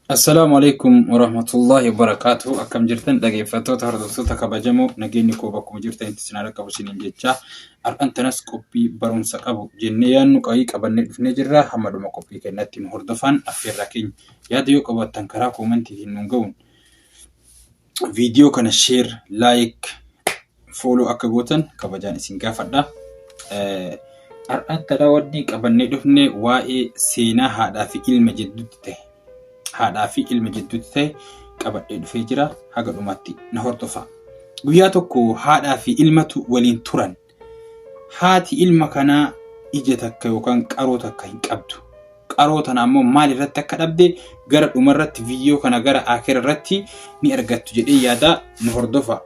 Assalaamu alaikum warahmatullahi wabarakatuh. Akkam jirtan dhaggeeffattoota hordoftoota kabajamoo nageenyi koo bakkuma jirtanitti isin haa dhaqqabu isiniin jechaa har'an tanas qophii barumsa qabu jennee yaadnu qabii qabannee dhufnee jirra hamma dhuma qophii keenyatti nu hordofaan affeerraa keenya yaada yoo qabaattan karaa koomantiitiin nuun ga'uun Viidiyoo kana sheer, laayik, fooloo akka gootan kabajaan isin gaafadha. Har'aatti dhala wanni qabannee dhufne waa'ee seenaa haadhaa fi ilma jidduutti ta'e haadhaa fi ilma jidduutti ta'e qabadhee dhufee jira. Haga dhumaatti na hordofaa. Guyyaa tokko haadhaa fi ilmatu waliin turan. Haati ilma kanaa ija takka yookaan qaroo takka hin qabdu. Qaroo tana ammoo maal irratti akka dhabde gara dhuma irratti viidiyoo kana gara akira irratti ni argattu jedhee yaada nu hordofa.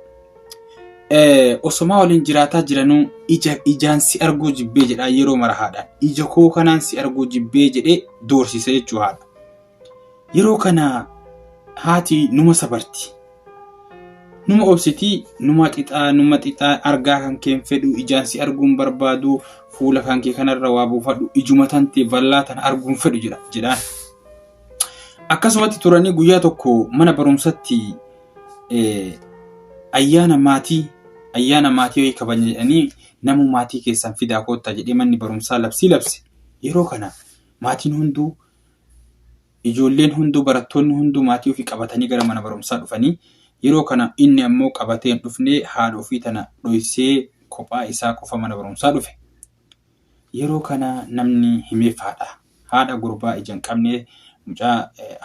Osomaa waliin jiraataa jiranuu ija ijaan si arguu jibbee jedhaa yeroo mara haadhaan. Ija koo kanaan si arguu jibbee jedhee doorsisa jechuu haadha. Yeroo kana haati numa sabarti. Numa obsiti, numa xixaa, numa xixaa argaa kan keen fedhu, ijaan si arguun barbaadu, fuula kan kee kanarra waa buufadhu, ijuma tante vallaa tana arguun fedhu jedha jedhaan. Akkasumatti turanii guyyaa tokko mana barumsatti ayyaana maatii ayyaana maatii wayii kabajna jedhanii namuu maatii keessan fidaa koottaa jedhee manni barumsaa labsii labse. Yeroo kana maatiin hunduu Ijoolleen hunduu barattoonni hunduu maatii ofii qabatanii gara mana barumsaa dhufanii yeroo kana inni ammoo qabatee hin dhufne haadha ofii tana dhoysee kophaa isaa qofa mana barumsaa dhufe. Yeroo kana namni himeef haadha. Haadha gurbaa ija hin qabne mucaa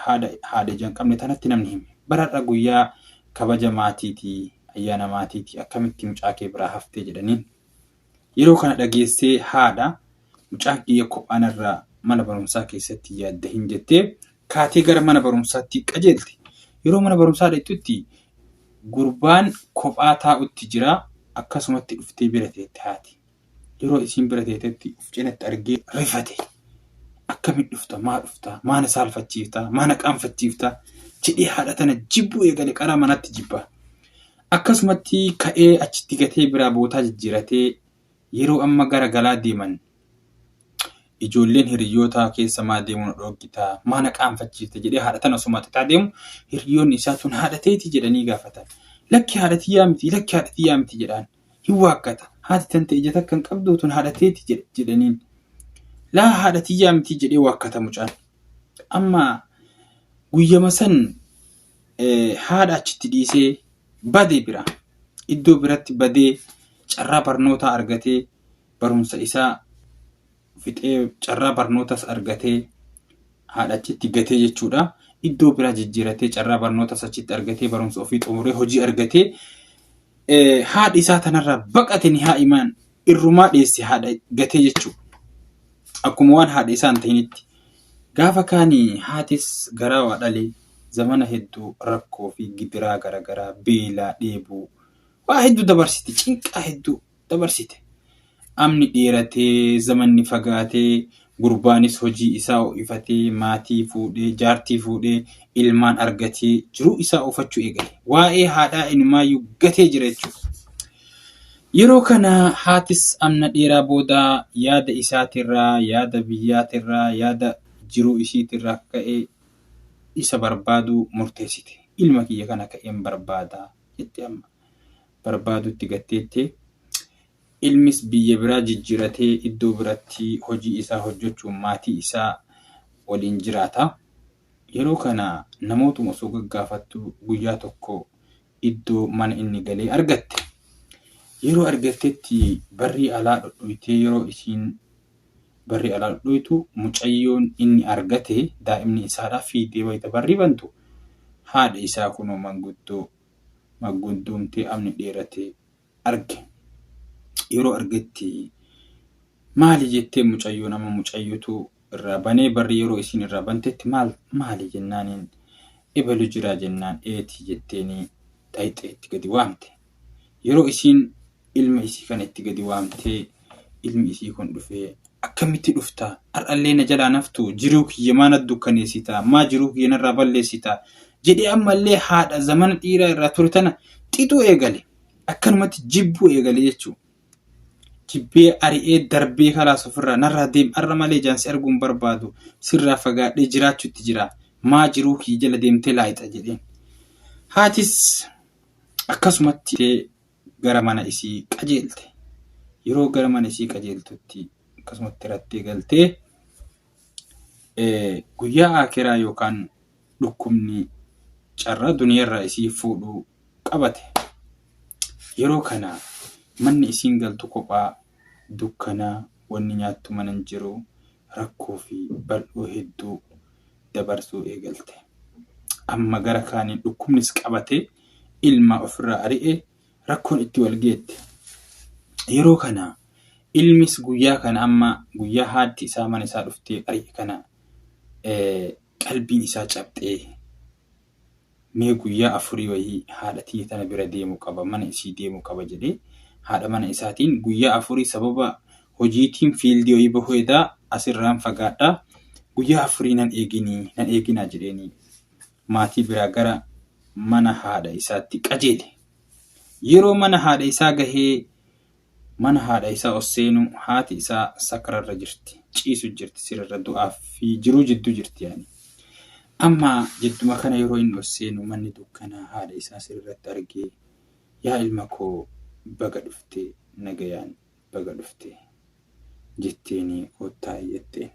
haadha haadha ija hin qabne tanatti namni hime. Baradha guyyaa kabaja maatiiti ayyaana maatiiti akkamitti mucaa kee biraa haftee jedhaniin. Yeroo kana dhageessee haadha mucaan kiyya kophaa narraa mana barumsaa keessatti yaadda hin jettee kaatee gara mana barumsaatti qajeelte. Yeroo mana barumsaa dhaqxutti gurbaan kophaa taa'utti jira akkasumatti dhuftee bira teette haati. Yeroo isiin bira teetetti of cinatti argee rifate. Akkamitti dhufta maa dhufta maa na saalfachiifta maa na qaanfachiifta jedhee haadha tana jibbuu eegale qaraa manatti jibba. Akkasumatti ka'ee achitti gatee biraa bootaa jijjiiratee yeroo amma gara galaa deeman ijoolleen hiriyyootaa keessa maa deemuu na dhooggitaa maa na qaanfachiifta jedhee haadha tana osuma xixaa deemu hiriyyoonni isaa tun haadha teeti jedhanii gaafatan. Lakki haadha tiyyaa miti lakki haadha tiyyaa miti jedhaan hin waakkata haati tante ija takka hin qabdu tun haadha teeti jedh- jedhaniin laa haadha tiyyaa miti jedhee waakkata mucaan. Amma guyyama san haadha achitti dhiisee bade bira iddoo biratti badee carraa barnootaa argatee barumsa isaa fixee carraa barnootas argatee haadha achitti gatee jechuudha. Iddoo biraa jijjiiratee carraa barnootas achitti argatee barumsa ofii xumuree hojii argatee haadhi isaa tanarraa baqate ni haa imaan irrumaa dheesse haadha gatee jechuudha. Akkuma waan haadha isaa hin ta'initti. Gaafa kaanii haatis garaa waa dhalee zamana hedduu rakkoo fi gidiraa garagaraa, beelaa, dheebuu, waa hedduu dabarsite, cinqaa hedduu dabarsite. Amni dheeratee, zamanni fagaatee, gurbaanis hojii isaa ho'ifatee, maatii fuudhee, jaartii fuudhee, ilmaan argatee jiruu isaa oofachuu eegale. Waa'ee haadhaa inumaayyuu gatee jira jechuudha. Yeroo kana haatis amna dheeraa booda yaada isaatirraa, yaada biyyaatirraa, yaada jiruu isiitirraa ka'ee isa barbaaduu murteessite. Ilma kiyya kana ka'een barbaada jette amma. Barbaaduutti gatteette. Ilmis biyya biraa jijjiratee iddoo biratti hojii isaa hojjechuun maatii isaa waliin jiraata. Yeroo kana namootuma osoo gaggaafattu guyyaa tokko iddoo mana inni galee argatte. Yeroo argattetti barrii alaa dhodhoytee yeroo isiin Barri alaa dhoytu mucayyoon inni argate daa'imni isaadha fiigdee wayita barri bantu haadha isaa kunoo manguddoo maggundoomtee amni dheerate arge. Yeroo argetti maali jettee mucayyoon amma mucayyootu irraa banee barri yeroo isiin irraa bantetti maal maali jennaaniin ebelu jiraa jennaan eeti jetteeni dhayxee itti gadi waamte. Yeroo isiin ilma isii kana itti gadi waamte ilmi isii kun dhufee akkamitti dhufta har'allee na jalaa hin haftu jiruu kiyya maa na dukkaneessita maa jiruu kiyya narraa balleessita jedhee ammallee haadha zamana dhiiraa irraa ture tana xixuu eegale akkanumatti jibbuu eegale jechuu jibbee ari'ee darbee kalaas ofirraa narraa deem har'a malee ijaan si arguu hin barbaadu sirraa fagaadhee jiraachuutti jira maa jiruu kiyya jala deemtee laayixa jedheen haatis Akkasumatti ka'ee gara mana isii qajeelte. Yeroo gara mana isii qajeeltutti akkasumatti rattee galtee guyyaa aakiraa yookaan dhukkubni carraa duniyarraa isii fuudhuu qabate. Yeroo kana manni isiin galtu kophaa dukkana wanni nyaattu mana hin jiru rakkoo fi bal'oo hedduu dabarsuu eegalte. Amma gara kaaniin dhukkubnis qabatee ilmaa ofirraa ari'ee rakkoon itti wal geette. Yeroo kana ilmis guyyaa kana amma guyyaa haatti isaa mana isaa dhuftee ari'e kana qalbiin isaa cabxee Mee guyyaa afurii wayii haadha tiyya tana bira deemu qaba, mana isii deemu qaba jedhee haadha mana isaatiin guyyaa afurii sababa hojiitiin fiildii wayii bahuu hedaa as irraan fagaadha guyyaa afurii nan eeginii nan eeginaa jedheenii maatii biraa gara mana haadha isaatti qajeele. Yeroo mana haadha isaa gahee Mana haadha isaa os seenu haati isaa sakra irra jirti ciisu jirti sirerra du'aa fi jiruu jidduu jirti yaani amma jidduma kana yeroo inni os seenu manni dukkanaa haadha isaa sirerratti argee yaa ilma koo baga dhufte nagayaan baga dhufte jetteeni kottaa'i jetteen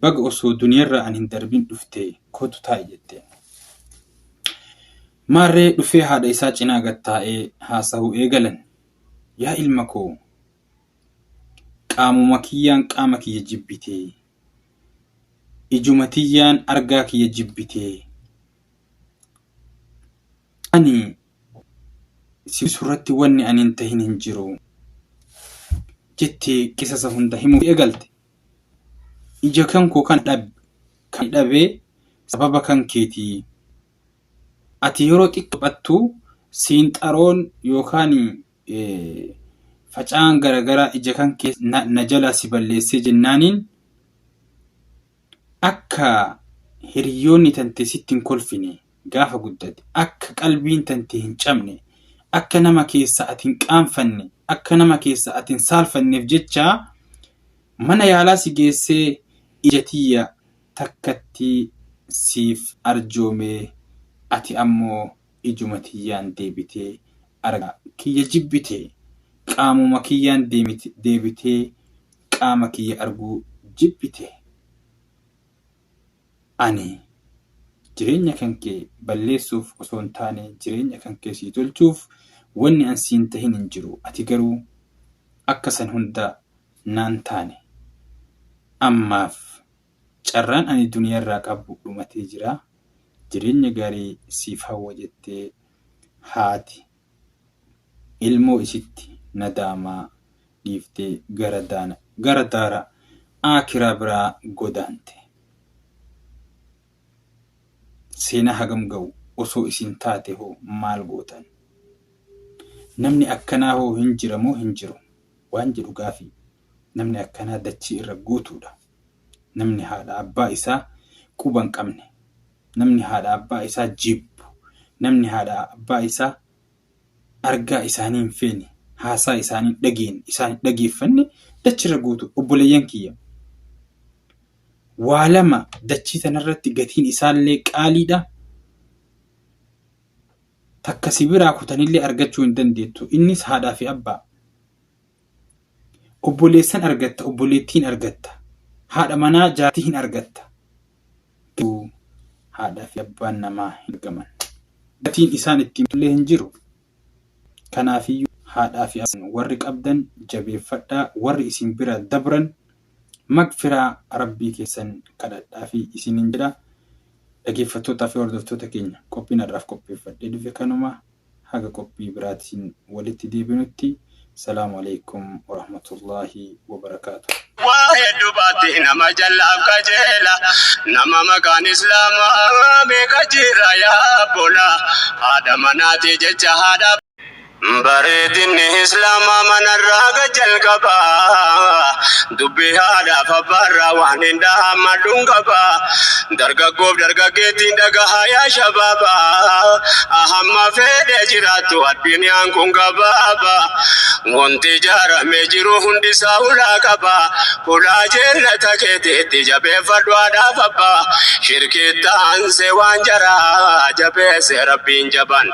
baga osoo duniyarraa an hin darbin dhufte kotu taa'i jetteen Maarree dhufee haadha isaa cinaa gad taa'ee haasahuu eegalan. Yaa ilma koo! Qaamuma kiyyaan qaama kiyya jibbitee? Ijuma tiyyaan argaa kiyya jibbitee? Ani si gudisu irratti wanni ani hin tahin hin jiru. jettee qisasa hunda himuu eegalte. Ija kan koo kana dhabe. Kan ani dhabe sababa kan keetii. Ati yeroo xiqqoo taphattu siinxaroon yookaan facaan garagaraa ija kan kee na jalaa si balleessee jennaaniin akka hiriyoonni tante sitti hin kolfine gaafa guddate akka qalbiin tante hin cabne akka nama keessa ati hin qaanfanne akka nama keessa ati hin saalfanneef jecha mana yaalaa si geessee ija tiyya takkattii siif arjoomee ati ammoo ijuma tiyyaan deebitee argaa kiyya jibbite qaamuma kiyyaan deebitee qaama kiyya arguu jibbite ani jireenya kankee balleessuuf osoo hin taane jireenya kankee sii tolchuuf wanni an siin tahin hin jiru ati garuu akka san hunda naan taane ammaaf Carraan ani duniyaarraa qabu dhumatee jira. Jireenya gaarii siif hawwa jettee haati ilmoo isitti nadaamaa dhiiftee gara daana gara daara aakiraa biraa godaante. Seenaa hagam ga'u osoo isin taate hoo maal gootan? Namni akkanaa hoo hin jira moo hin jiru? Waan jedhu gaafii. Namni akkanaa dachii irra guutuudha. Namni haadha abbaa isaa quba hin qabne, namni haadha abbaa isaa jibbu, namni haadha abbaa isaa argaa isaanii hin feene, haasaa isaanii hin dhageenne, isaan hin dhageeffanne dachii irra guutuudha. Obboleeyyan kiyya! Waa lama dachii tana irratti gatiin isaallee qaaliidha. Takka si biraa kutanillee argachuu hin dandeettu. Innis haadhaa fi abbaa. Obboleessan argatta, obboleettii hin argatta, haadha manaa jaartii hin argatta. Garuu haadhaa fi abbaan namaa hin argaman. Gatiin isaan itti himatullee hin jiru. Kanaafiyyuu haadhaa fi abbaan warri qabdan jabeeffadhaa, warri isin bira dabran magfiraa Rabbii keessan kadhadhaafi isiniin jedha. Dhageeffattootaa fi hordoftoota keenya qophiin har'aaf qopheeffadhee dhufe kanuma. haga qophii biraatiin walitti deebinutti Salaam Aleykum Warahmatullahi Wabarakatuh. Waa heddu baatti nama jallaaf qajeela Nama maqaan islaamaa meeqa jirra yaa abbola Haadha manaatii jecha haadha abbola Bareedinni islaamaa manarraa gad jalqaba Dubbii haadhaaf abbaarraa waan hin dhaammadhun qaba Dargaggoof dargaggeettiin dhagahaa yaa shabaaba Ahamma fedhee jiraattu addunyaan kun gabaaba Wanti ijaaramee jiru hundisaa hulaa qaba Hulaa jeennata keetiitti jabeeffadhu haadhaaf abbaa Shirkiitti aansee waan jaraa jabeesse rabbiin jabaan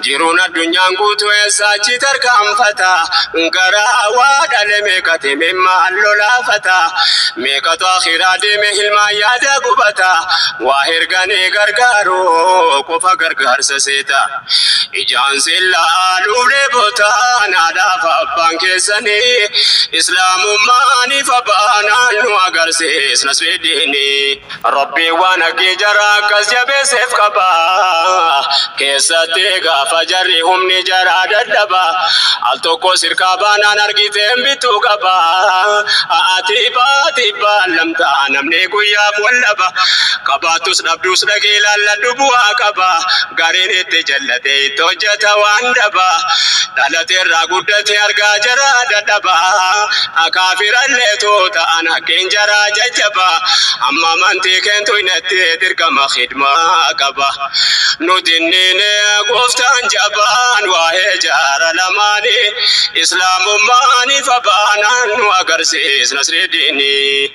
Jiruun addunyaan guutuu eessaa achi tarkaanfata Gara hawaa dhale meeqatu imimmaan lolaafata Meeqatu akhiraa deeme hilmaan yaada gubata Waa erganii gargaaruu qofa gargaarsa seeta Ijaan sin laaluuf dheebota Haadhaaf abbaan keessanii Islaamummaaniif abbaa naannoo agarsiisna Sweediinii Rabbi waan haqqii jara akkas jabeesseef qaba. Keessatti gaafa jarri humni jara dadhaba. Al tokko sirkaa baanaan argiteen bituu qaba. A'ati baati baallamta namni guyyaaf wal dhaba. Qabaattus dhabdus dhaqii laalladhu bu'aa qaba. Gariin itti jallatee itti hojjeta waan daba. Dhalateerraa guddate argaa jara dadhaba. Haa kaafirallee too ta'an haqqeen jaraa jajjaba Amma amantii keen tuynetti dirqama khidmaa qaba Nu dinniine gooftaan jabaan waa'ee jaara lamaani Islaamummaan ifa baanaan nu agarsiis nasrii diinii.